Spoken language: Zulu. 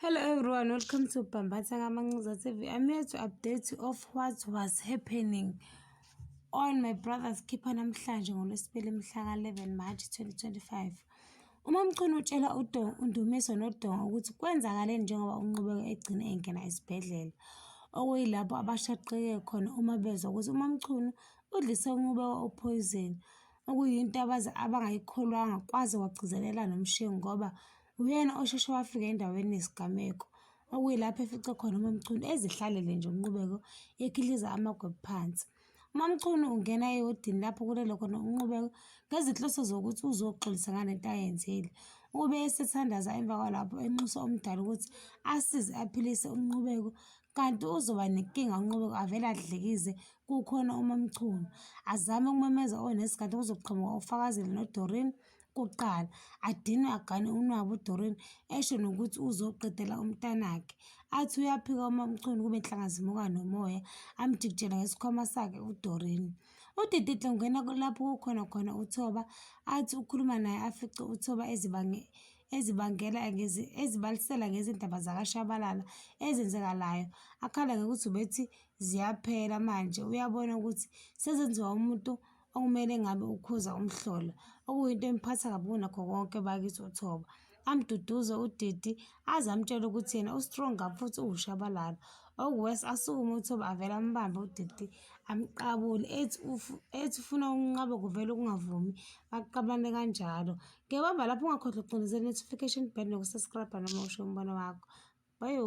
Hello everyone, welcome to Bambatha Kamancuza TV. I'm here to update you of what was happening on my brother's keeper namhlanje ngolwesibili mhlaka 11 March 2025. Uma mchunu utshela uDongo undumiso noDongo ukuthi kwenzakale njengoba unqubeka egcine engena esibhedlela. Okuyilapho abashaqeke khona uma bezwa ukuthi uma mchunu udlise unqubeka opoyizeni okuyinto abaze abangayikholwanga kwaze wagcizelela nomshengu ngoba Uyena osheshe wafika endaweni yesigameko, okuyilapho efice khona uMamchunu ezihlalele nje uNqubeko ekhihliza amagwebu phansi. UMamchunu ungena ewodini lapho kulele khona uNqubeko ngezinhloso zokuthi uzoxolisa ngale nto ayenzile. Ube esethandaza emva kwalapho enxusa umdala ukuthi asize aphilise uNqubeko kanti uzoba nenkinga uNqubeko avele adlikize kukhona uMamchunu. Azame ukumemeza onesikhathi kuzoqhamuka uFakazile noDoreen kuqala, adinwe agane unwabu uDoreen esho nokuthi uzoqedela umntanakhe. Athi uyaphika uMaMchunu kube nhlanga zimuka nomoya, amjikijele ngesikhwama sakhe uDoreen. UDidihle ungena lapho kukhona khona uThoba, athi ukhuluma naye afice uThoba ezibange ezibangela ezibalisela ngezindaba zakaShabalala ezenzekalayo akhala ngokuthi ubethi ziyaphela manje uyabona ukuthi sezenziwa umuntu okumele ngabe ukhuza umhlola okuyinto emphatha kabi kunakho konke bakithi uthoba amduduze udidi aze amtshele ukuthi yena ustrong kabi futhi uwushabalala okuwes asukume uthoba avele ambambe udidi amqabule ethi ethi ufuna ukunqaba kuvele ukungavumi baqabane kanjalo ngebamba lapho ungakhohlwa ukucindezela notification bell nokusubscribe noma usho umbono wakho bayo